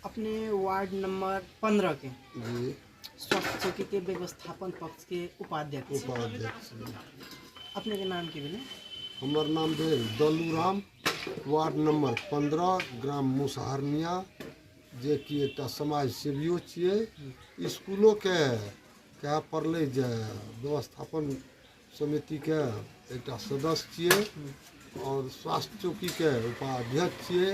अपने ward number पंद्रह के जी स्वास्थ्य चौकी के व्यवस्थापन पक्ष के उपाध्यक्ष छी। उपाध्यक्ष जी। अपने के नाम की भेलै हमर नाम भेल दलू राम वार्ड नंबर पंद्रह ग्राम मुसहरनिया जे कि एकटा समाज सेवियो छियै इसकुलोके कहए पड़लै जे व्यवस्थापन समितिके एकटा सदस्य छियै आओर स्वास्थ्य चौकीके उपाध्यक्ष छियै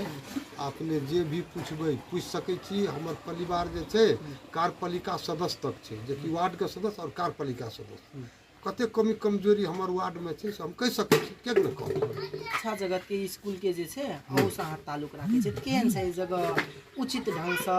अपने जे भी पुछबै पुछि सकै छी हमर परिवार जे छै कार्यपालिका सदस्य तक छै जेकि वार्डके सदस्य आओर कार्यपालिका सदस्य कते कमी कमजोरी हमर वार्डमे छै से हम कहि सकै छी किएक नहि कहब शिक्षा जगत के स्कूल के जे छै ओहू से अहाँ ताल्लुक राखै छै केहन छै जगह उचित ढंग से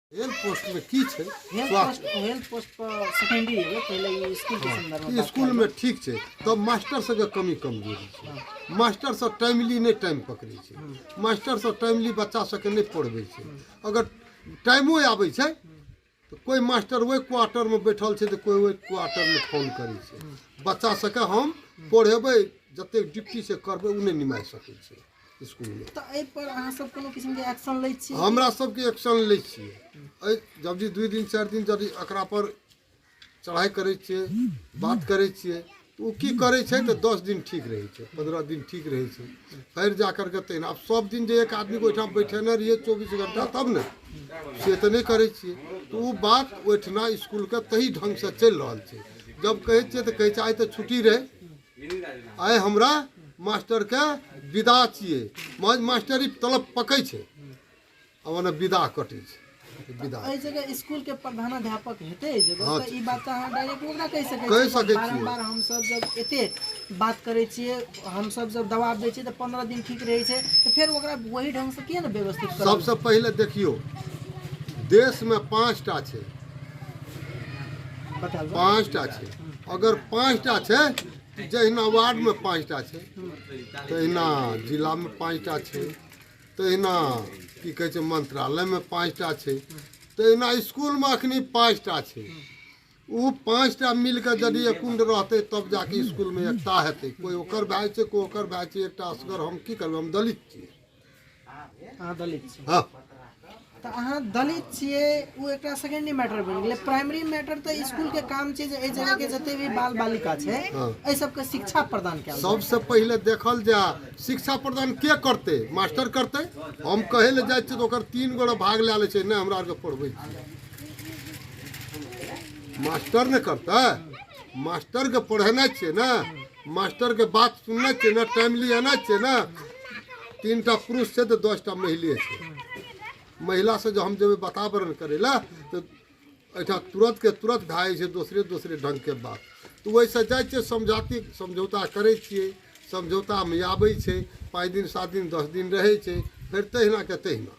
हेल्थ पोस्ट में की छै हेल्थ स्वास्थ्य पोस्ट हेल्थ पोस्ट पर सेकेंडरी एगो पहले ई स्कूल के संदर्भ में बात स्कूल करब। में ठीक छै तब मास्टर सबके कमी कमजोरी छै मास्टर सब टाइमली नहि टाइम पकड़ै छै मास्टर सब टाइमली बच्चा सबके नहि पढ़बै छै अगर टाइमो आबै छै तऽ कोइ मास्टर ओहि क्वार्टरमे बैठल छै तऽ कोइ ओहि क्वार्टरमे फोन करै छै बच्चा सबके हम पढ़ेबै जतेक ड्यूटी से करबै ओ नहि निमाहि सकै छै हमरा सबके एक्शन लै छियै एहि जब जे दुइ दिन चारि दिन यदि एकरा पर चढ़ाइ करै छियै बात करै छियै तऽ ओ की करै छै तऽ दस दिन ठीक रहै छै पन्द्रह दिन ठीक रहै छै फेर जा करके तहिना आब सब दिन जे एक आदमीके ओहिठाम बैठेने रहियै चौबीस घंटा तब ने से तऽ नहि करै छियै तऽ ओ बात ओहिठिना इसकुलके तही ढंग से चलि रहल छै जब कहै छियै तऽ कहै छै आइ तऽ छुट्टी रहै आइ हमरा मास्टरके विदा छियै माज मास्टरी तलब पकै छै आ ओना विदा कटै छै विदा एहि जगह स्कूल के प्रधानाध्यापक हेतै एहि जगह हाँ। तऽ ई बात तऽ अहाँ डायरेक्ट ओकरा कहि सकै कहि छियै। सकै छियै। बारम्बार हमसब जब एते बात करै छियै हमसब जब दबाब दै छियै तऽ पंद्रह दिन ठीक रहै छै तऽ फेर ओकरा वही ढंग से किया ने व्यवस्थित करब सबसँ पहिले देखियौ देशमे पाँच टा छै बताबू पाँच टा छै अगर पाँचटा छै जहिना वार्डमे पाँचटा छै तहिना जिलामे पाँचटा छै तहिना की कहै छै मन्त्रालयमे पाँचटा छै तहिना इसकुलमे एखन पाँचटा छै ओ पाँचटा मिलके यदि एकुण्ड रहतै तब जाके इसकुलमे एकता हेतै कोइ ओकर भए छै कोइ ओकर भए छै एकटा असगर हम की करबै हम दलित छियै अहाँ दलित छी हँ तऽ अहाँ दलित छियै ओ एकटा सेकेंडरी मैटर बनि गेलै प्राइमरी मैटर तऽ स्कूलके काम छै जे एहि जगहके जते भी बाल बालिका छै एहि सबके शिक्षा प्रदान कयल जाय। सबसे पहिले देखल जा शिक्षा प्रदान के करते मास्टर करते हम कहे ले जाए छियै तऽ ओकर तीन गोरा भाग लए ले छै नहि हमरा आरके पढ़बै छियै मास्टर ने करतै मास्टरके पढ़ेनाइ छियै ने मास्टर के बात सुनने छे ना टाइमली आना छे ना तीन टा पुरुष छे तो दस टा महिला छे महिला से जो हम जब वातावरण करेला तो ऐठा तुरंत के तुरंत भए छै दोसरे दोसरे ढंग के बात तो वैसे जाए छे समझाती समझौता करे छे समझौता में आबे छे पाँच दिन सात दिन दस दिन रहे छे फिर तहिना के तहिना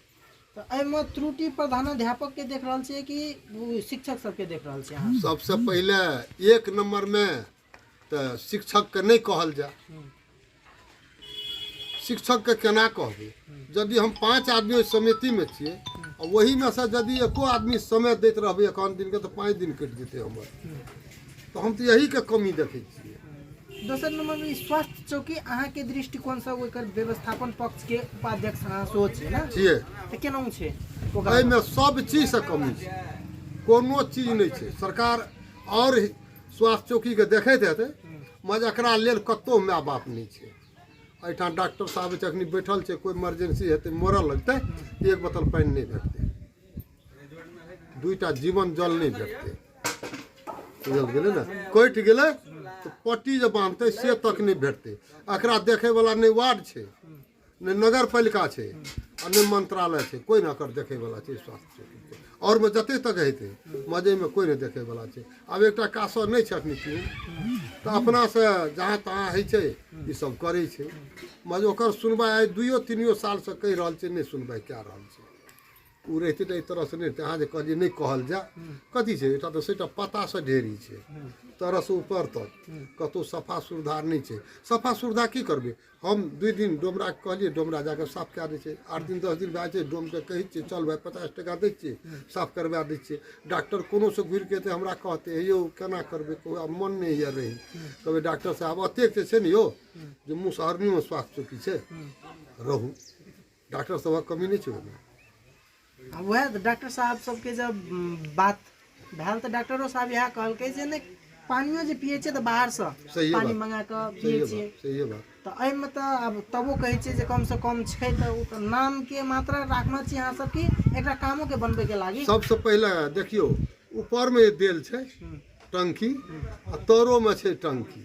तऽ एहिमे त्रुटि प्रधानाध्यापक के देख रहल छियै कि ओ शिक्षक सबके देख रहल छियै अहाँ सबसे पहले एक नंबर में तऽ शिक्षकके नहि कहल जाय शिक्षकके केना कहबै यदि हम पाँच आदमी ओहि समितिमे छियै आ ओहीमे सँ यदि एको आदमी समय दैत रहबै एकाउन दिनके तऽ पाँच दिन कटि जेतै हमर तऽ हम तऽ यहीके कमी देखै छियै दोसर नम्बरमे ई स्वास्थ्य चौकी अहाँके दृष्टिकोणसँ ओकर व्यवस्थापन पक्षके उपाध्यक्ष अहाँ सेहो छियै ने छियै तऽ केना छै ओकर एहिमे सब चीजसँ कमी छै कोनो चीज नहि छै सरकार आओर स्वास्थ्य चौकीके देखैत हेतै मगर एकरा लेल कतहु माय बाप नहि छै एहिठाम डॉक्टर साहब जखन बैठल छै कोइ इमरजेंसी हेतै मरऽ लगतै एक बोतल पानि नहि भेटतै दुइटा जीवन जल नहि भेटतै बुझल गेलै ने कटि गेलै तऽ पट्टी जे बान्हतै से तक नहि भेटतै एकरा देखैवला नहि वार्ड छै नहि नगर पालिका छै आ नहि मंत्रालय छै कोइ नहि एकर देखैवला छै स्वास्थ्य क्षेत्रके आओरमे जते तक हेतै मजैमे कोइ नहि देखैवला छै आब एकटा कासर नहि छै एखन केओ तऽ अपनासँ जहाँ तहाँ होइ छै ई सब करै छै मज ओकर सुनवाइ आइ दुइयो तीनियो सालसँ कहि रहल छै नहि सुनवाइ कए रहल छै ओ रहितै तऽ एहि तरहसँ नहि रहितै अहाँ जे कहलियै नहि कहल जाय कथी छै एकटा तऽ सेटा पतासँ ढेरी छै तरहसँ ऊपर तक कतहु सफा सुविधा नहि छै सफा सुविधा की करबै हम दुइ दिन डोमराके कहलिए डोमरा जाके साफ कए दै छै आठ दिन दस दिन भए जाइ छै डोमके कहै छिए चल भाइ पचास टका दै छिए साफ करबा दै छिए डाक्टर कोनोसे घुरिके अएतै हमरा कहतै हे यौ कोना करबै कहबै आब मोन नहि होइए रहैके कहबै डाक्टर साहेब एतेक जे छै ने यौ जे मुसहरनोमे स्वास्थ्य चौकी छै रहू डॉक्टर सभक कमी नहि छै ओहिमे आ उएह तऽ डॉक्टर साहब सभके जब बात भेल तऽ डॉक्टरो साहब इएह कहलकै जे नहि पानियो जे पियै छियै तऽ बाहरसँ सहिए पानि बात। मङ्गा कऽ पियै सहिए छियै बात सहिए बात तऽ एहिमे तऽ आब तबो कहै छियै जे कमसँ कम छै तऽ ओ तऽ नामके मात्रा राखने छी अहाँसभ कि एकरा कामोके बनबैके लागी सबसँ पहिले देखियौ ऊपरमे जे देल छै टंकी आ तरोमे छै टंकी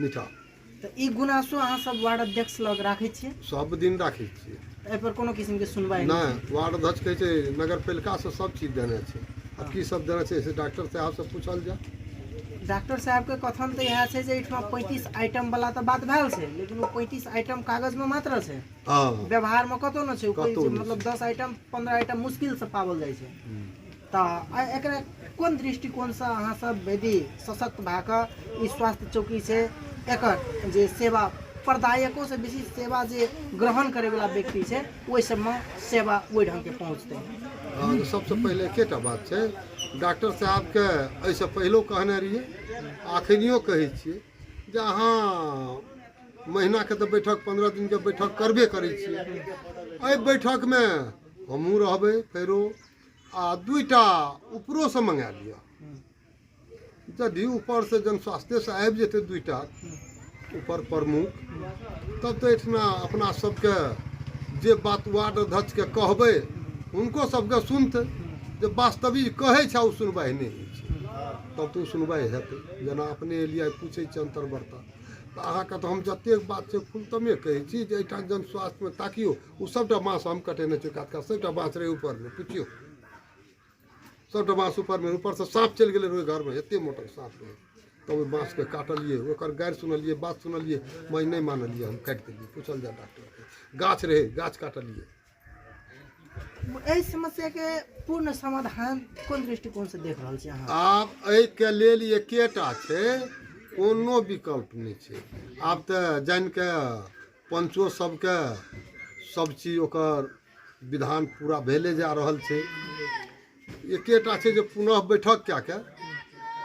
मीठा तऽ ई गुनासो अहाँ सब वार्ड अध्यक्ष लग राखै छियै सब दिन राखै छियै एहि पर कोनो किसिम के सुनवाई नहि नहि वार्ड अध्यक्ष कहै छै नगर पालिका से सब चीज देने छै आ की सब देने छै से डॉक्टर साहब से पूछल जाय डॉक्टर साहब के कथन तऽ इएह छै जे एहिठाम पैंतीस आइटम वाला तऽ बात भेल छै लेकिन ओ पैंतीस आइटम कागज मे मात्र छै हँ व्यवहार मे कतौ नहि छै ओ कतहु कहै छै, नहि मतलब दस आइटम पंद्रह आइटम मुश्किल से पावल जाइ छै तऽ एकरा कोन दृष्टिकोणसँ अहाँ सब यदि सशक्त भए कऽ ई स्वास्थ्य चौकी छै एकर जे सेवा प्रदायकोसँ बेसी सेवा जे ग्रहण करैवला व्यक्ति छै ओहि सबमे सेवा ओहि ढङ्गके पहुँचतै हँ तऽ सबसँ पहिले एकेटा बात छै डॉक्टर साहबके एहिसँ पहिलो कहने रहियै एखनियो कहै छियै जे अहाँ महीनाके तऽ बैठक पन्द्रह दिनके बैठक करबे करै छियै एहि बैठकमे हमहूँ रहबै फेरो आ दुइटा उपरोसँ मँगा लिअ यदि ऊपरसँ जहन स्वास्थ्यसँ आबि जेतै दुइटा ऊपर प्रमुख तब तऽ एहिठिना अपना सबके जे बात वार्ड अध्यक्षके कहबै हुनको सबके सुनतै जे वास्तविक कहै छै ओ सुनवाइ नहि होइ छै तब तऽ ओ सुनवाइ हेतै जेना अपने एलियै पूछै छी अन्तर्वार्ता तऽ अहाँके तऽ हम जतेक बात छै खुलतमे कहै छी जे एहिठाम जन स्वास्थ्यमे ताकियौ ओ सभटा बाँस हम कटेने छी कात कात सभटा बाँस रहै ऊपरमे पुछियौ सभटा बाँस ऊपरमे ऊपरसँ साँप चलि गेलै रहै घरमे एतेक मोटक साँप रहै तब ओहि बाँसके काटलियै ओकर गारि सुनलियै बात सुनलियै माय नहि मानलियै हम काटि देलियै पूछल जाय डॉक्टरके गाछ रहै गाछ काटलियै एहि समस्याके पूर्ण समाधान कोन दृष्टिकोणसँ देख रहल छी अहाँ आब एहिके लेल एकेटा छै कोनो विकल्प नहि छै आब तऽ जानि कऽ पञ्चो सबके सब चीज ओकर विधान पूरा भेले जा रहल छै एकेटा छै जे पुनः बैठक कए कऽ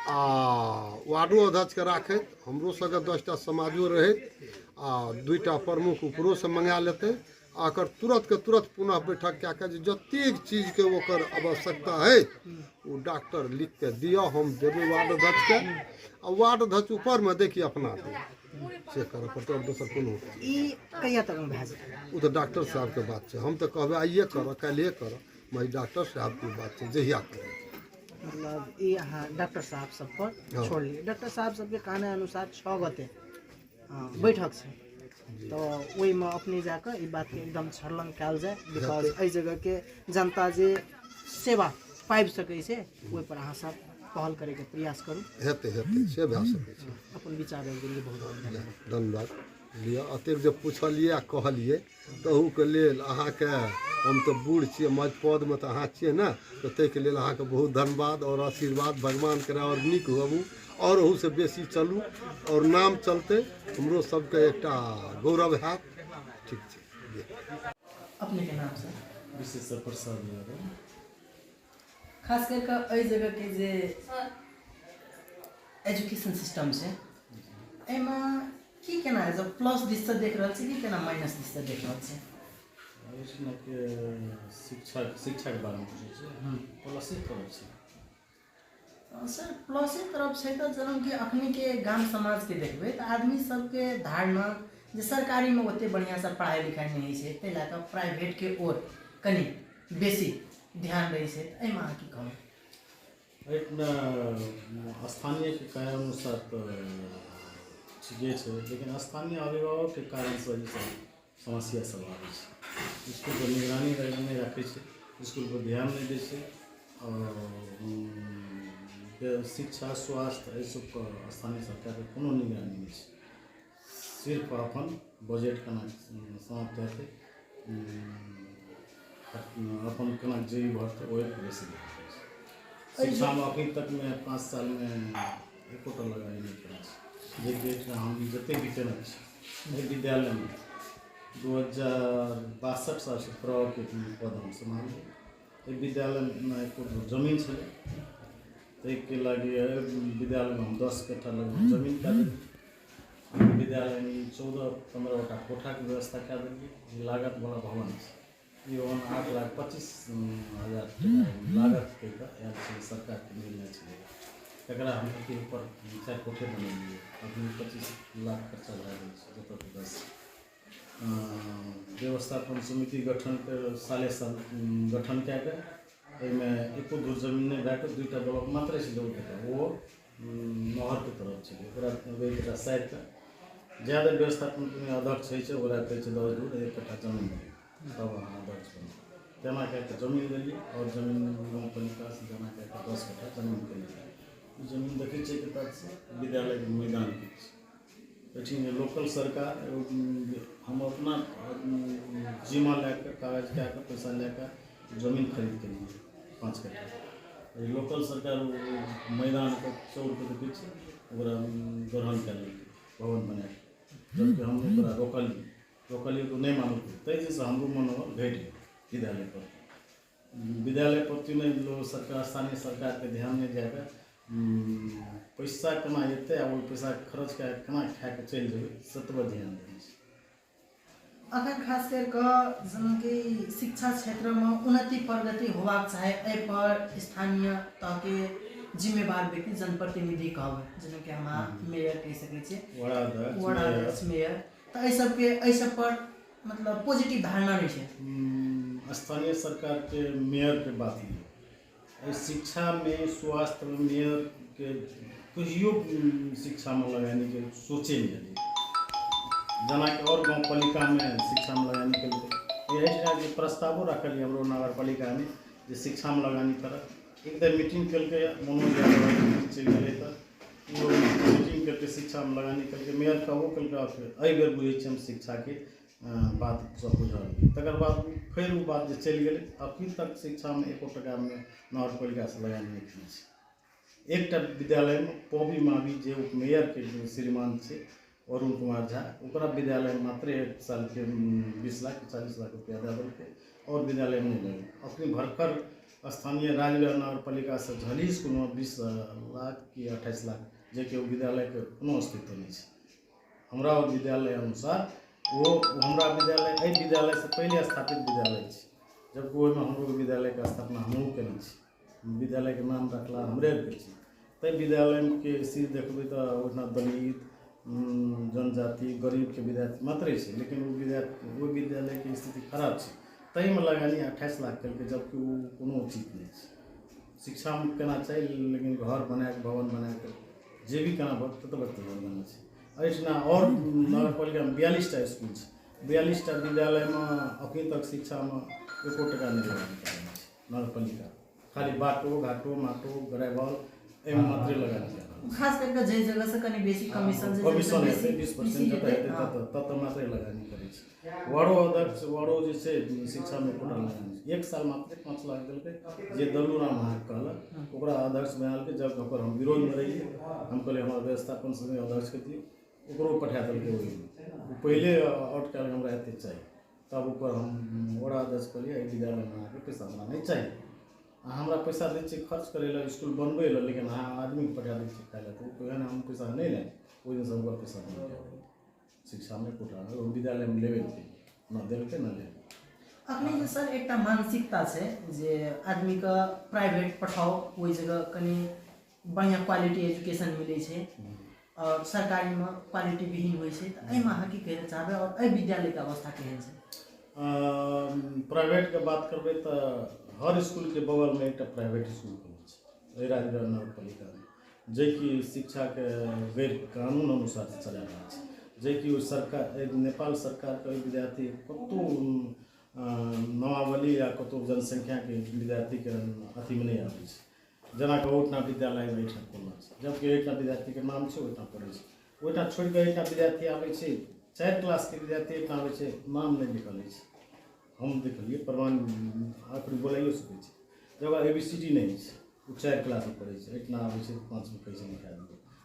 आ वार्डो अध्यक्षके राखैत हमरो सबके दसटा समाजो रहैत आ दुइटा प्रमुख उपरोसँ मंगा लेतै आ एकर तुरतके तुरत पुनः बैठक कए कऽ जे जतेक चीजके ओकर आवश्यकता है ओ डॉक्टर लिख कऽ दिअ हम देबै वार्ड अध्यक्षके आ वार्ड अध्यक्ष ऊपरमे देखिए अपना दे चेक करऽ पड़तै आओर दोसर कोनो ई कहिया तक में भए जेतै ओ तऽ डॉक्टर साहबके बात छै हम तऽ कहबै आइए करऽ काल्हिए करऽ मगर डॉक्टर साहबके बात छै जहिया करऽ मतलब ई अहाँ डॉक्टर साहब सब पर हँ। छोड़लियै डॉक्टर साहब सबके कहने अनुसार छः गते हँ, बैठक छै तो ओहिमे अपने जाकऽ ई बातके एकदम छर्लंग कयल जाय बिकॉज एहि जगहके जनता जे सेवा पाबि सकै छै ओहिपर अहाँ सब पहल करैके प्रयास करू हेतै हेतै से भए सकै छै अपन विचार रखि देलियै बहुत बहुत धन्यवाद धन्यवाद लिअ एतेक जे पुछलियै आ कहलियै तहूके लेल अहाँके हम तऽ बूढ़ छियै मज पदमे तऽ अहाँ छियै ने तऽ ताहिके लेल अहाँके बहुत धन्यवाद आओर आशीर्वाद भगवान करे आओर नीक होबू आओर ओहूसँ बेसी चलू आओर नाम चलतै हमरो सबके एकटा गौरव हैत ठीक छै अपने के नाम सर विशेश्वर प्रसाद यादव खास कर के एहि जगह के जे एजुकेशन सिस्टम छै एहिमे की केना है जब प्लस दिस से देख रहल छी की केना माइनस दिस से देख रहल छी एहिठिना के शिक्षा शिक्षा के बारे में पूछे छै प्लसे करै छै सर प्लस एक तरफ छै तऽ जेना कि अखनीके गाम समाजके देखबै तऽ आदमी सबके धारणा जे सरकारीमे ओते बढ़िआँसँ पढ़ाइ लिखाइ नहि होइ छै ताहि लए कऽ प्राइवेटके ओर कनि बेसी ध्यान दै छै एहिमे अहाँ की कहब एहिमे स्थानीयके कारण अनुसार तऽ ठीके छै लेकिन स्थानीय अभिभावकके कारणसँ ई सब समस्या सब आबै छै इसकुल पर निगरानी नहि राखै छै इसकुल पर ध्यान नहि दै छै आओर शिक्षा स्वास्थ्य एहि सब पर स्थानीय सरकारके कोनो निगरानी नहि छै सिर्फ अपन बजट केना समाप्त हेतै अपन केना जे भऽ जेतै ओहि बेसी शिक्षामे अखन तकमे पाँच सालमे एकोटा लगाइ नहि केने छी जेकि एकटा हम जतेक भी केने छी एहि विद्यालयमे दू हजार बासठ सालसँ प्रवके पद हम सम्हारलियै एहि विद्यालयमे एको गो जमीन छलै ताहिके लागि एहि विद्यालयमे हम दस कट्ठा लगभग जमीन कए देलियै विद्यालयमे ई चौदह पन्द्रहटा कोठाके व्यवस्था कए देलियै जे लागतवला भवन ई भवन आठ लाख पच्चीस हजार लागत कहि कऽ आयल छलै सरकारके निर्णय छलै तकरा हम अथी ऊपर चारि कोठे बनेलियै अभी पच्चीस लाख खर्चा भए गेल छै जतऽ ततऽ व्यवस्थापन समिति गठन साले साल गठन कए कऽ एहिमे एको धूर जमीन नहि भए कऽ दूटा ब्लॉक मात्रे छलै ओ महरके तरफ छै ओकरा कहबै जे साइडके जए धरि व्यवस्थापन कोनो अध्यक्ष होइ छै ओकरा कहै छै दस धूर एक कट्ठा जमीन दिअ तब अहाँ अध्यक्ष बनू तेना कए कऽ जमीन लेलियै आओर जमीन गाँव पालिकासँ जमा कए कऽ दस कट्ठा जमीन कयलियै ई जमीन देखै छियै कतय छै विद्यालयके मैदान किछु एहिठिन लोकल सरकार हम अपना जिम्मा लए कऽ कागज कए कऽ पैसा लए कऽ जमीन खरीद केलियै पाँच कट्ठा लोकल सरकार मैदानके चौर कऽ देखै छै ओकरा ग्रहण कए लेलकै भवन बना कऽ जबकि हम ओकरा रोकलियै रोकलियै तऽ ओ नहि मानलकै ताहि दिनसँ हमरो मनोबल घटि गेल विद्यालयपर विद्यालय प्रति नहि लोग सरकार स्थानीय सरकारके ध्यान नहि दए कऽ पैसा केना एतै आ ओ पैसा खर्च कए कऽ केना खाए कऽ चलि जेबै से तऽ ध्यान देने छै अखन खास करि कऽ जेनाकि शिक्षा क्षेत्रमे उन्नति प्रगति होबाक चाही एहिपर स्थानीय तहके जिम्मेवार व्यक्ति जनप्रतिनिधि कहबै जेनाकि हमरा मेयर कहि सकै छियै वड़ा अध्यक्ष मेयर तऽ एहि सबके एहि सब पर मतलब पॉजिटिव धारणा नहि छै स्थानीय सरकारके मेयरके बात लियौ एहि शिक्षामे स्वास्थ्यमे मेयरके कहियो शिक्षामे लगेने सोचे नहि अयलै जेनाकि आओर गाँव पालिकामे शिक्षामे लगेने केलकै एहि ठाम जे प्रस्तावो राखल यऽ हमरो नगर पालिकामे जे शिक्षामे लगानी करत एक तऽ मीटिंग केलकै मनोज यादव चलि गेलै तऽ ओ मीटिंग केलकै शिक्षामे लगानी केलकै मेयर कहबो केलकै आओर फेर एहि बेर बुझै छियै हम शिक्षाके बात सब बुझल तकर बाद फेर ओ बात जे चलि गेलै अभी तक शिक्षामे एको टाकामे नगर पालिकासँ लगानी नहि केने छै एकटा विद्यालयमे पौवी मावी जे मेयरके जे श्रीमान छै अरुण कुमार झा ओकरा विद्यालयमे मात्रे सालके बीस लाख चालीस लाख रुपैआ दए देलकै आओर विद्यालयमे नहि लगलै अखने भरखर स्थानीय राजनगर नगर पालिकासँ झलही इसकुलमे बीस लाख कि अट्ठाइस लाख जेकि ओ विद्यालयके कोनो अस्तित्व नहि छै हमरा ओ विद्यालय अनुसार ओ हमरा विद्यालय एहि विद्यालयसँ पहिले स्थापित विद्यालय छै जबकि ओहिमे हमरो विद्यालयके स्थापना हमहूँ कयने छी विद्यालयके नाम रखला हमरे आरके छी तै विद्यालयके स्थिति देखबै तऽ ओहिठाम दलित जनजाति गरीबके विद्यार्थी मात्रे छै लेकिन ओ विद्यार्थी ओ विद्यालयके स्थिति खराब छै ताहिमे लगानी अट्ठाइस लाख केलकै जबकि ओ कोनो उचित नहि छै शिक्षामे केना चाही लेकिन घर बनाए भवन बनाए कऽ जे भी केना भवन ततऽ बच्चा भवन बनै छै एहिठिना आओर नगरपालिकामे बियालिस टा इसकुल छै बियालिस टा विद्यालयमे अखन तक शिक्षामे एको टाका नहि देलक नगरपालिका खाली बाटो घाटो माटो ग्रेभल एहिमे मात्रै लगानी छै खास करि कऽ जाहि जगहसँ कनि बेसी कमीशन छै कमीशन जतय हेतै बेसी- बीस बेसी परसेंट जतय हेतै, हेतै हँ। ततय ततय मात्रै लगानी करै छै वार्डो अध्यक्ष वार्डो जे छै शिक्षामे एकोटा लगानी छै। एक साल मात्रे पाँच लाख देलकै जे दल्लू राम अहाँके कहलक ओकरा अध्यक्ष बनालकै जब ओकर हम विरोधमे रहियै हम कहलियै हमरा व्यवस्थापन समिति अध्यक्षके दियौ ओकरो पठा देलकै ओहिमे ओ पहिले आउट कयल हमरा एतेक चाही तब ओकर हम ओकरा आदेश कहलियै एहि विद्यालयमे अहाँके पैसा हमरा नहि चाही अहाँ हमरा पैसा दै छियै खर्च करै लए इसकुल बनबै लए लेकिन अहाँ आदमीके पठा दै छियै खाय लए तऽ ओ कहै ने हम पैसा नहि लेब ओहि दिनसँ ओकर पैसा नहि लेब शिक्षा नहि कोटा ओ विद्यालयमे लेबे नहि केलियै नहि देलकै नहि लेलकै अखनी जे सर एकटा मानसिकता छै जे आदमीके प्राइवेट पठाओ ओहि जगह कनि बढ़िआँ क्वालिटी एजुकेशन मिलै छै आओर सरकारीमे क्वालिटी विहीन होइ छै तऽ एहिमे अहाँ की कहै लए चाहबै आओर एहि विद्यालयके अवस्था केहन छै प्राइवेटके बात करबै तऽ हर इसकुलके बगलमे एकटा प्राइवेट इसकुल खुलल छै एहि राजगढ़ नगर पालिकामे जेकि शिक्षाके गैर कानून अनुसार चला रहल छै जेकि ओ सरकार नेपाल सरकारके ओहि विद्यार्थी कतहु नामावली या कतहु जनसङ्ख्याके विद्यार्थीके अथीमे नहि आबै छै जेनाकि ओहिठाम विद्यालय एहिठाम खोलना छै जबकि ओहिठाम विद्यार्थीके नाम छै ओहिठाम पढ़ै छै ओहिठाम छोड़ि कऽ एकटा विद्यार्थी आबै छै चारि क्लासके विद्यार्थी एकटा आबै छै नाम नहि लिखल अछि हम देखलिए प्रमाण आखिर बोलाइयो सकै छी जकर ए बी सी डी नहि अछि ओ चारि क्लासमे पढ़ै छै एहिठाम आबै छै पाँचमे कहै छै लिखा दियौ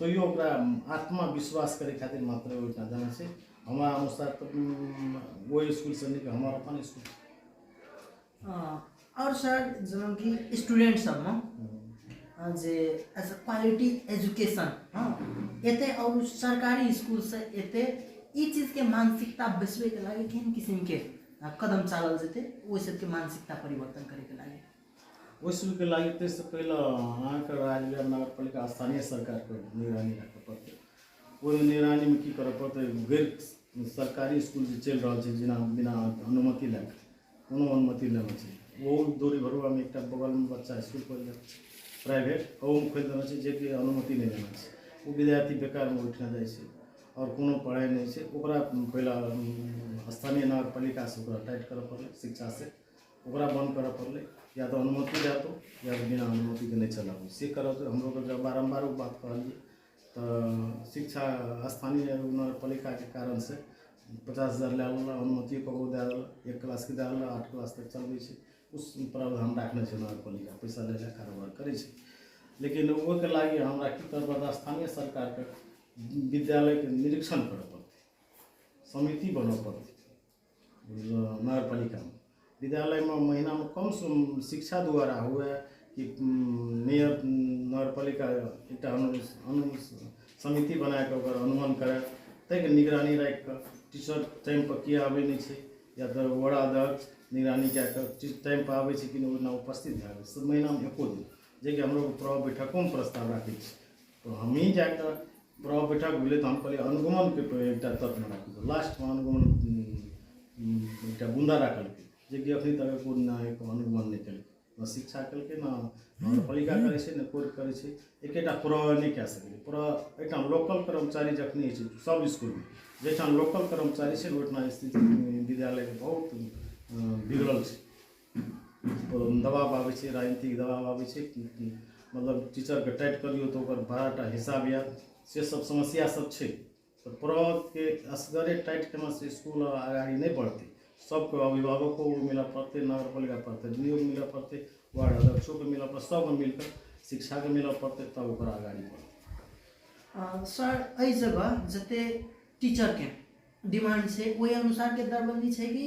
तैयो ओकरा आत्मा विश्वास करै खातिर मात्र ओहिठाम देने छै हमरा अनुसार तऽ उम, ओहि स्कूलसँ नीक हमर अपन स्कूल छै। आओर सर जेनाकि स्टूडेंट सबमे अ, जे एज अ क्वालिटी एजुकेशन हँ एते आओर सरकारी स्कूलसँ एते ई चीजके मानसिकता बैसबैके लागि केहन किसिमके अ, कदम चालल जेतै ओहि सबके मानसिकता परिवर्तन करैके लागि वसूलके लागि ताहिसँ पहिले अहाँके राजगर नगरपालिका स्थानीय सरकारके निगरानी राखऽ पड़तै ओहिमे निगरानीमे की करऽ पड़तै गैर सरकारी इसकुल जे चलि रहल छै जेना बिना अनुमति लए कऽ कोनो अनुमति लेने छै ओ दूरी भरुआमे एकटा बगलमे बच्चा इसकुल खोलि देने छै प्राइवेट ओहोमे खोलि देने छै जेकि अनुमति नहि लेने छै ओ विद्यार्थी बेकारमे उठिना जाइ छै आओर कोनो पढ़ाइ नहि छै ओकरा पहिले स्थानीय नगरपालिकासँ ओकरा टाइट करऽ पड़लै शिक्षासँ ओकरा बन्द करऽ पड़लै या तऽ अनुमति दए दो या तऽ बिना अनुमतिके नहि चलाबू से करब हम लोग जब बारम्बार ओ बात कहलियै तऽ शिक्षा स्थानीय नगरपालिकाके कारण से पचास हजार लए लेलक अनुमति ककरो दए देलक एक क्लासके दए देलक आठ क्लास तक चलबै छै उस प्रावधान राखने छै नगरपालिका पैसा लए लए कारोबार करै छै लेकिन ओहिके लागि हमरा की करऽ पड़त स्थानीय सरकारके विद्यालयके निरीक्षण करऽ पड़तै समिति बनऽ पड़तै नगर पालिका विद्यालयमे महिनामे कमसँ कम शिक्षा द्वारा हुए कि मेयर नगर पालिका एकटा अनु अनु समिति बना कऽ ओकर अनुमन करय ताहिके निगरानी राखि कऽ टीचर टाइमपर किए आबै नहि छै या तऽ वार्ड अध्यक्ष निगरानी कए कऽ टीचर टाइमपर आबै छै कि नहि ओहि दिना उपस्थित भए कऽ से महिनामे एको दिन जे कि हमरो प्रभाव बैठकोमे प्रस्ताव राखै छी तऽ हमहीँ जा कऽ ब्रह्म बैठक भेलै तऽ हम कहलियै अनुगमनके कोइ एकटा तत्व राखू तऽ लास्टमे अनुगमन एकटा बुन्दा राखलकै जेकि अखन तक एको दिन अनुगमन नहि केलकै ने शिक्षा केलकै ने नगरपालिका करै छै ने कोर्ट करै छै एकेटा प्र नहि कए सकैए प्र एहिठाम लोकल कर्मचारी जखन होइ छै सभ इसकुलमे जाहिठाम लोकल कर्मचारी छै ओहिठाम स्थिति विद्यालयके बहुत बिगड़ल छै दबाब आबै छै राजनीतिक दबाब आबै छै मतलब टीचरके टाइट करियौ तऽ ओकर बड़ा टा हिसाब आयत से सब समस्या सब छै तऽ प्रभावके असगरे टाइट केना से इसकुल आर आगारी नहि बढ़तै सबके अभिभावको मिलऽ पड़तै नगर पालिका प्रतिनिधियोके मिलऽ पड़तै वार्ड अध्यक्षोके मिलऽ पड़तै सबके मिलकऽ शिक्षाके मिलऽ पड़तै तब ओकर आगारी बढ़तै अ, सर एहि जगह जते टीचर के डिमांड छै ओहि अनुसार के दरबंदी छै कि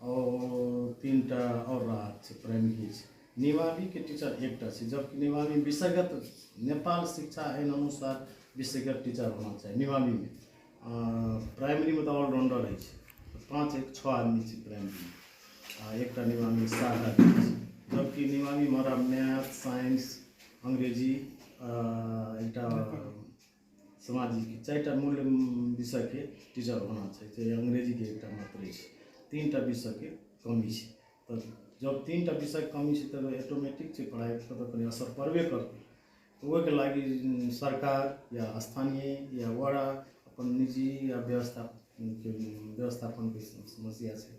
आओर तीन टा आओर राहत छै प्राइमरी छै निवाबीके टीचर एकटा छै जबकि निवाबी विषयगत नेपाल शिक्षा एन अनुसार विषयगत टीचर होना चाही निवाबीमे प्राइमरीमे तऽ ऑलराउंडर होइ छै पाँच एक छओ आदमी छै प्राइमरीमे आ एकटा निवाबी सात आदमी छै जबकि निवाबीमे हमरा मैथ साइंस अंग्रेजी एकटा समाजिक चारि टा मूल विषयके टीचर होना चाही चाहे अंग्रेजीके एकटा मात्र अछि तीन टा विषयके कमी छै तऽ जब तीन टा विषयके कमी छै तऽ ऑटोमेटिक छै पढ़ाइ पर तऽ कनि असर पड़बे करतै तऽ ओहिके लागी उम, सरकार या स्थानीय या वड़ा अपन निजी या व्यवस्था के व्यवस्थापनके समस्या छै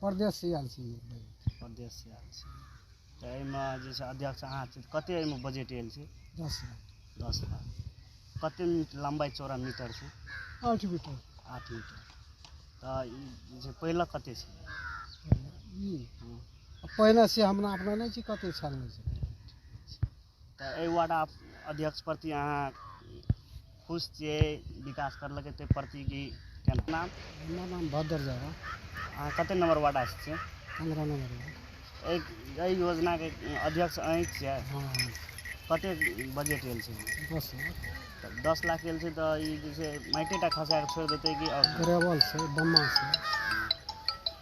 परदेश से आयल छी परदेश से आयल छी तऽ एहिमे जे छै अध्यक्ष अहाँ छी कते एहिमे बजट आयल छै दस लाख दस लाख कते मीटर लम्बाई चौड़ा मीटर छै आठ मीटर आठ मीटर तऽ ई जे छै पहिले कते छै ई हँ। पहिने से हमरा अपना नहि छी कते छानने छै तऽ एहि वार्ड अध्यक्ष प्रति अहाँ खुश छियै विकास करलकै ताहि प्रति कि केना नाम हमर नाम भद्र झा बा, अहाँ कते नंबर वार्ड आस छियै पंद्रह नंबर बा। एहि एहि योजनाके अध्यक्ष अहीं छियै हँ कते बजट आयल छै दस लाख तब दस लाख गेल छै तऽ ई जे छै माइटे टा खसा कऽ छोड़ि देतै कि आओर ग्रेवल छै बम्मा छै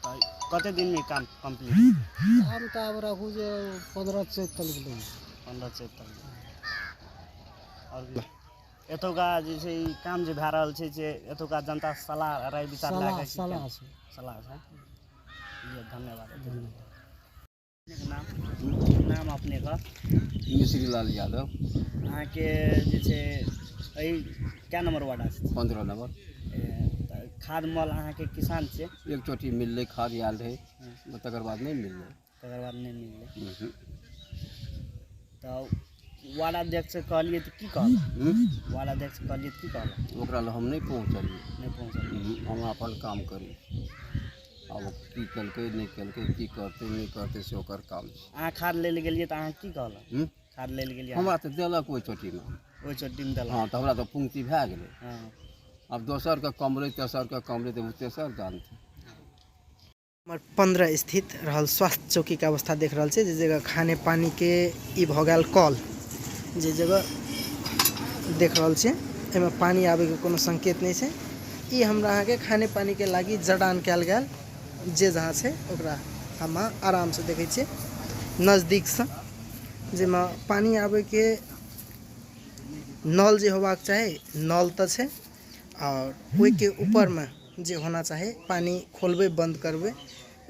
तऽ कतेक दिनमे ई काम कम्प्लीट हम तऽ आब राखू जे पन्द्रह चैत तक गेलै पन्द्रह चैत तक आओर की? एतुका जे छै ई काम जे भए रहल छै से एतुका जनता सलाह राय विचार लए सलाह कऽ की सलाह केना- छै सलाह छै जी धन्यवाद नाम अपनेके मिश्री लाल यादव अहाँके जे छै एहि कए नम्बर वार्ड अछि पन्द्रह नम्बर खाद मल अहाँके किसान से एक चोटी मिललै खाद आयल रहै तकर बाद नहि मिललै तकर बाद नहि मिललै तऽ वार्ड अध्यक्षसँ कहलियै तऽ की कहलक वार्ड अध्यक्षसँ कहलियै तऽ की कहलक ओकरा लए हम नहि पहुँचलियै नहि पहुँचलियै हम अपन काम करी आब की केलकै नहि केलकै की करतै नहि करतै से ओकर काम छै अहाँ खाद लै लए गेलियै तऽ अहाँ की कहलक हूँ? खाद लै लए गेलियै हमरा तऽ देलक ओहि चोटीमे ओहि चोटीमे देलक हँ तऽ हमरा तऽ पूर्ति भए गेलै हँ आब दोसरके कमरै तेसरके कमरै तऽ ओ तेसर जानतै नंबर पंद्रह स्थित रहल स्वास्थ्य चौकी के अवस्था देख रहा है जे जगह खाने पानी के ई भ गया कॉल जे जगह देख रहा है एहिमे पानी आबे के कोनो संकेत नहीं है ई हमरा अहाँ के खाने पानी के लागी जडान कल गया जे जहाँ से ओकरा हम आराम से देखे छे नजदीक से जैमे पानी आबे के नल जे होबाक चाही नल तो है आओर ओइके उपरमे जे होना चाही पानि खोलबै बन्द करबै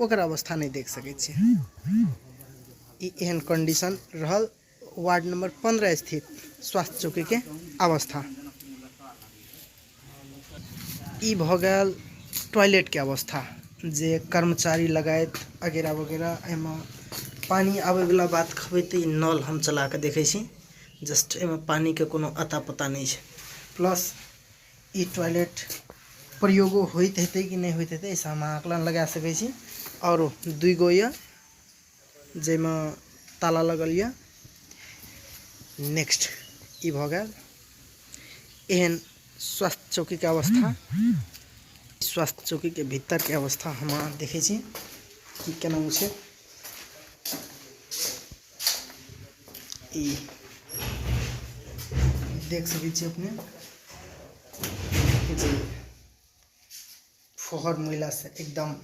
ओकर अवस्था नहि देख सकै छी ई एहन कन्डिशन रहल वार्ड नम्बर पन्द्रह स्थित स्वास्थ्य चौकीके अवस्था ई भऽ गेल टॉयलेटके अवस्था जे कर्मचारी लगायत अगैरह वगैरह एहिमे पानि आबैवला बात कहबै तऽ ई नल हम चलाकऽ देखै छी जस्ट एहिमे पानिके कोनो अता पता नहि छै प्लस ई टॉयलेट प्रयोगो होइत हेतै कि नहि होइत हेतै एहिसँ हम आकलन लगा सकै छी आओर दुइ गो यए जाहिमे ताला लगल यए नेक्स्ट ई भऽ गेल एहन स्वास्थ्य चौकीके अवस्था स्वास्थ्य चौकीके भीतरके अवस्था हम अहाँ देखै छी कि केना छै ई देख सकै छी अपने जे फोहर महिला से एकदम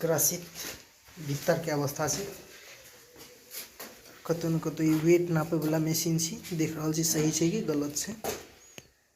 ग्रसित भीतर के अवस्था से कतहु ने कतहु ई वेट नापयवला मशीन छी देख रहल छी सही छै कि गलत छै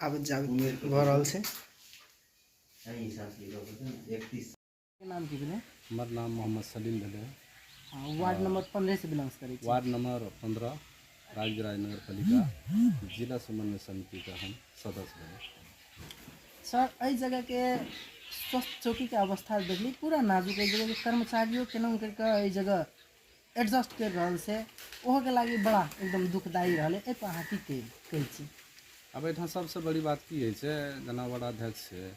आब जाग भऽ रहल छै नाम की भेलै हमर नाम मोहम्मद सलीम भेलै वार्ड नंबर पंद्रह से बिलोंग करै छी वार्ड नंबर पंद्रह राजगिराज नगर पालिका जिला समन्वय समिति का हम सदस्य रहे सर एहि जगह के स्वास्थ्य चौकी के अवस्था देखली पूरा नाजुक एहि जगह के कर्मचारियों केना करके एहि जगह एडजस्ट कर रहल से ओहो के लागी बड़ा एकदम दुखदायी रहले ए पर अहाँ की कही कहै छी अब एहिठाम सबसँ बड़ी बात की होइ छै जेना वडाध्यक्ष छै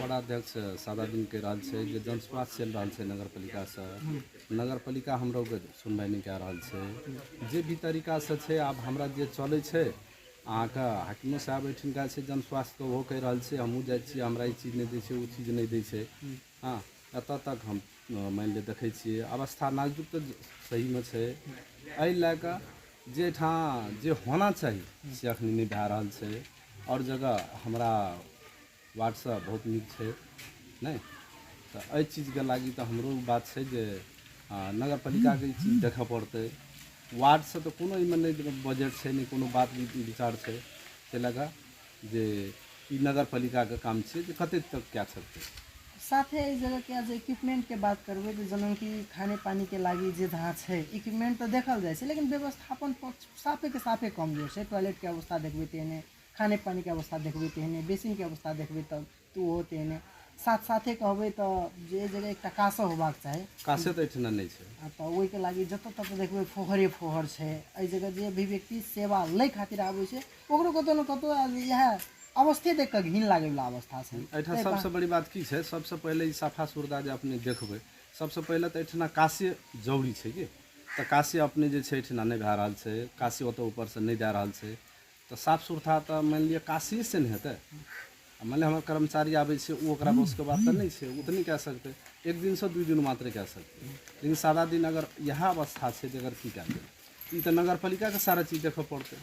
वडाध्यक्ष सादा दिन कहि रहल छै जे जनस्वास्थ्य चलि रहल छै नगर पालिकासँ नगर पालिका हमरो के सुनवाइ नहि कए रहल छै जे भी तरीकासँ छै आब हमरा जे चलै छै अहाँके हाकिमो साहब एहिठिनका छै जनस्वास्थ्यके ओहो कहि रहल छै हमहूँ जाइ छियै हमरा ई चीज नहि दै छै ओ चीज नहि दै छै हँ एतऽ तक हम मानि लिअ देखै छियै अवस्था नाजुक तऽ सहीमे छै एहि लए कऽ जे एहिठाम जे होना चाही से अखन नहि भए रहल छै आओर जगह हमरा वार्डसँ बहुत नीक छै नहि तऽ एहि चीजके लागि तऽ हमरो बात छै जे नगर पालिकाके ई चीज देखऽ पड़तै वार्डसँ तऽ कोनो एहिमे नहि बजट छै नहि कोनो बात विचार छै ताहि लए कऽ जे ई नगरपालिकाके काम छै जे कते तक कए सकतै साथे एहि जगहके जे इक्विपमेंटके बात करबै तऽ जेनाकि खाने पानीके लागि जे जहाँ छै इक्विपमेंट तऽ देखल जाइ छै लेकिन व्यवस्थापन पक्ष साफेके साफे कमजोर छै टॉयलेटके अवस्था देखबै तेहने खाने पानीके अवस्था देखबै तेहने बेसिनके अवस्था देखबै तब तू हो तेहने साथ साथे कहबै तऽ जे जगह एकटा कासो होबाक चाही कासे तऽ एहिठिना नहि छै आ तऽ ओहिके लागि जतऽ ततऽ देखबै फोहरे फोहर छै एहि जगह जे भी व्यक्ति सेवा लै खातिर आबै छै ओकरो कतौ ने कतौ आब इएह अवस्थे देख कऽ घिन लागै वला अवस्था छै एहिठाम सबसँ बड़ी बात की छै सबसँ पहिले ई साफा सुरदा जे अपने देखबै सबसँ पहिले तऽ एहिठिना कासे जरूरी छै कि तऽ कासे अपने जे छै एहिठिना नहि भए रहल छै कासे ओतऽ ऊपरसँ नहि दए रहल छै तऽ साफ सुथरा तऽ मानि लिअ काशिये से ने हेतै आ मानि लिअ हमर कर्मचारी आबै छै ओ ओकरा बसके बात तऽ नहि छै ओ तऽ नहि कए सकतै एक दिनसँ दू दिन मात्र कए सकतै लेकिन सारा दिन अगर इएह अवस्था छै जे अगर की कए देबै ई तऽ नगर पालिकाके सारा चीज देखऽ पड़तै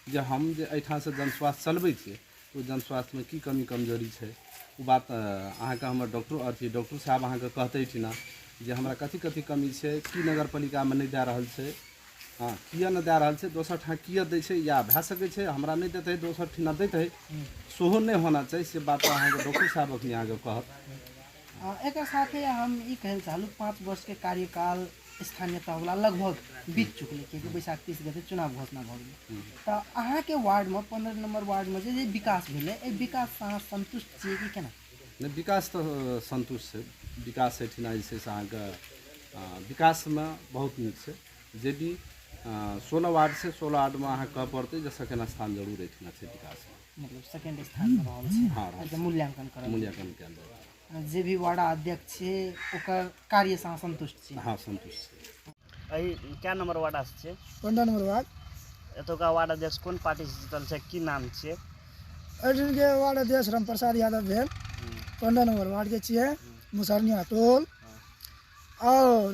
जे हम जे एहिठामसँ जन स्वास्थ्य चलबै छियै ओ जनस्वास्थ्यमे की कमी कमजोरी छै ओ बात अहाँके हमर डॉक्टर अथी डॉक्टर साहब अहाँके कहते ठिना जे हमरा कथी कथी कमी छै की नगर पालिकामे नहि दए रहल छै हँ किए नहि दए रहल छै दोसर ठाँ किए दै छै या भए सकै छै हमरा नहि देतै दोसर ठिना देतै सेहो नहि होना चाही से बात अहाँके डॉक्टर साहब अखनी अहाँके कहत एकर साथे हम ई कहै लए चाहलहुँ पाँच वर्षके कार्यकाल स्थानीय तहवला लगभग बीत चुकलै किएकि बैसाख तीस गते चुनाव घोषणा भऽ गेलै तऽ अहाँके वार्डमे पन्द्रह नम्बर वार्डमे जे जे विकास भेलै एहि विकाससँ अहाँ सन्तुष्ट छियै कि केना नहि विकास तऽ सन्तुष्ट छै विकास एहिठिना जे छै से अहाँके आ, विकासमे बहुत नीक छै जे भी सोलह वार्ड छै सोलह वार्डमे अहाँ कहऽ पड़तै जे सेकेंड स्थान जरूर एहिठिना छै विकासमे मतलब सेकंड स्थान पर रहल छै हाँ, रहल मतलब मूल्यांकन करल मूल्यांकन कयल जाय छै। जे भी वार्ड अध्यक्ष छै ओकर कार्य से अहाँ संतुष्ट छी हँ सन्तुष्ट छी। एहि कए नम्बर वार्डासँ छियै पन्द्रह नम्बर वार्ड एतुका वार्ड अध्यक्ष कोन पार्टीसँ जीतल छै की नाम छियै अर्जुनके वार्ड अध्यक्ष रामप्रसाद यादव भेल पन्द्रह नम्बर वार्डके छियै मुसरनिया टोल आओर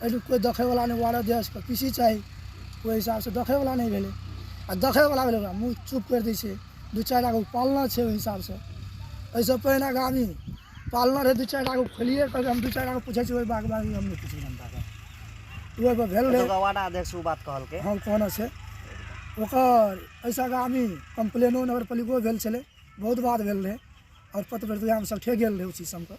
एहिठाम कोइ देखैवला नहि वार्ड अध्यक्षके पी सी चाही ओहि हिसाबसे देखैवला नहि भेलै आओर देखैवला भेलै ओकरा मुँह चुप करि दै छै दुइ चारि टाके पालना छै ओहि हिसाबसे एहिसे पहिने गामी पालना रहै दुइ चारि टाके खोलिए कहलकै हम दुइ चारि टाके पुछै छी ओहि बाग बाग हम नहि पुछै जनताके ओहिपर भेल रहै वार्ड अध्यक्ष ओ बात कहलकै हम कहने छै ओकर एहिसँ आगामी कम्प्लेनो नगरपालिको भेल छलै बहुत बात भेल रहै आओर प्रतिबद्धतामे सब ठकि गेल रहै ओ चीज सबके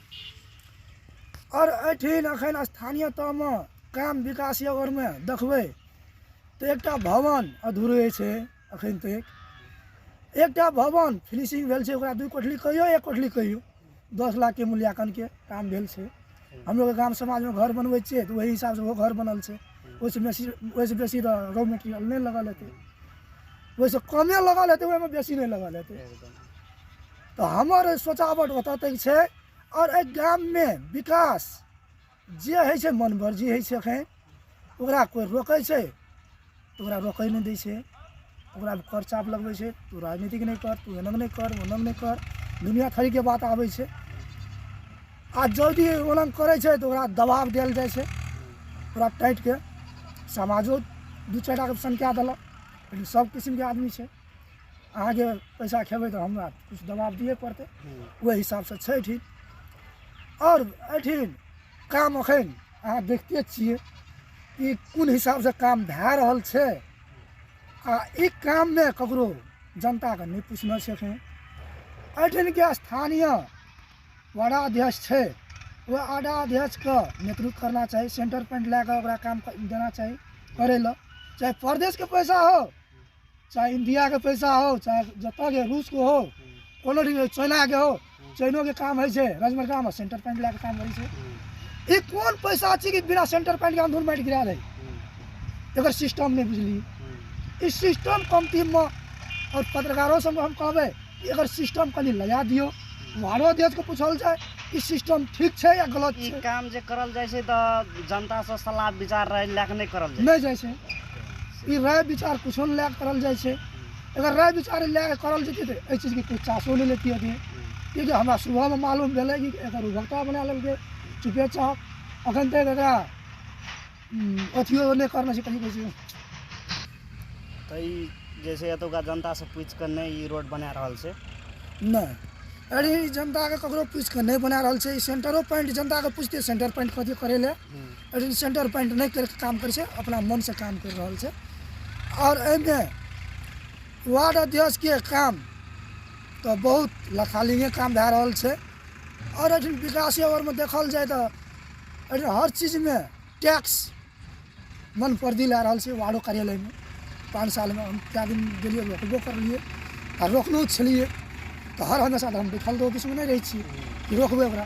आओर एहिठिन एखन स्थानीय तौरमे काम विकास यऽ ओहिमे देखबै तऽ एकटा भवन अधूरे छै एखन तक एकटा भवन फिनिशिंग भेल छै ओकरा दू कोठली कहियौ एक कोठली कहियौ दस लाखके मूल्याङ्कनके काम भेल छै हमलोग गाम समाजमे घर बनबै छियै तऽ ओहि हिसाबसँ ओहो घर बनल छै ओहिसँ बेसी ओहिसँ बेसी तऽ रॉ मेटेरियल नहि लगल हेतै ओहिसँ कमे लगल हेतै ओहिमे बेसी नहि लगल हेतै तऽ हमर सोचावट ओतऽ तक छै आओर एहि गाममे विकास जे होइ छै मन मर्जी होइ छै एखन ओकरा कोइ रोकै छै तऽ ओकरा रोकै नहि दै छै ओकरा कर चाप लगबै छै तू राजनीतिक नहि कर तू एनक नहि कर ओनक नहि कर दुनिया खरीके बात आबै छै आ जल्दी ओनक करै छै तऽ ओकरा दबाव देल जाइ छै ओकरा टाइटके समाजो दू चारि टाके संख्या देलक लेकिन सब किसिमके आदमी छै अहाँके पैसा खेबै तऽ हमरा किछु दबाव दिए पड़तै ओहि हिसाबसँ छै ठीक आओर एहिठिन काम एखन अहाँ देखते छियै कि कोन हिसाबसँ काम भए रहल छै आ ई काममे ककरो जनताके नहि पूछने छै एखन एहिठिनके स्थानीय वडा अध्यक्ष छै ओ वडा अध्यक्षके नेतृत्व करना चाही सेंटर पॉइंट लए कऽ ओकरा काम देना चाही करै लए चाहे प्रदेशके पैसा हो चाहे इंडिया के पैसा हो चाहे जतऽ के रूस के हो कोनो भी हो, चाइना के हो चाइनो के काम होइ छै रजमर काम सेंटर पॉइंट लए के काम करै छै ई कोन पैसा छै कि बिना सेंटर पॉइंट के अंधूर माटि गिरा दै एकर सिस्टम नहि बुझली ई सिस्टम कमती मे और पत्रकारो सब हम कहबै कि एकर सिस्टम कनि लगा दियौ बाहरो देश के पूछल जाय ई सिस्टम ठीक छै या गलत ई छै काम जे करल जाइ छै तऽ जनतासँ सलाह विचार रहै लए कऽ नहि करल जाइ छै। नहि जाइ छै ई राय विचार किछो नहि लए करल जाइ छै अगर राय विचार लए करल जेतै तऽ एहि चीजके कोइ चासो नहि लेती अभी किएकि हमरा सुबहमे मालूम भेलै कि एकर उभरता बना लेलकै चुपे चाप अखन तक एकरा अथियो नहि करने छै कहीं कहै तऽ ई जे छै एतुका जनतासँ पूछि कऽ नहि ई रोड बना रहल छै नहि अरे जनताके ककरो पूछि कऽ नहि बना रहल छै ई सेंटरो पॉइंट जनताके पूछतै सेंटर पॉइंट कथी करै लए लेकिन सेन्टर पॉइन्ट नहि करिके काम करै छै अपना मोनसे काम करि रहल छै आओर एहिमे वार्ड अध्यक्षके काम तऽ बहुत लथालिङ्गे काम भए रहल छै आओर एहिठाम विकासे ओरमे देखल जाए तऽ एहिठाम हर चीजमे टैक्स मन परदी लए रहल छै वार्डो कार्यालयमे पाँच सालमे हम कए दिन गेलियै रोकबो करलियै आ रोकलो छलियै तऽ हर हमेशा तऽ हम बैठल रहू किछुमे नहि रहै छियै रोकबै ओकरा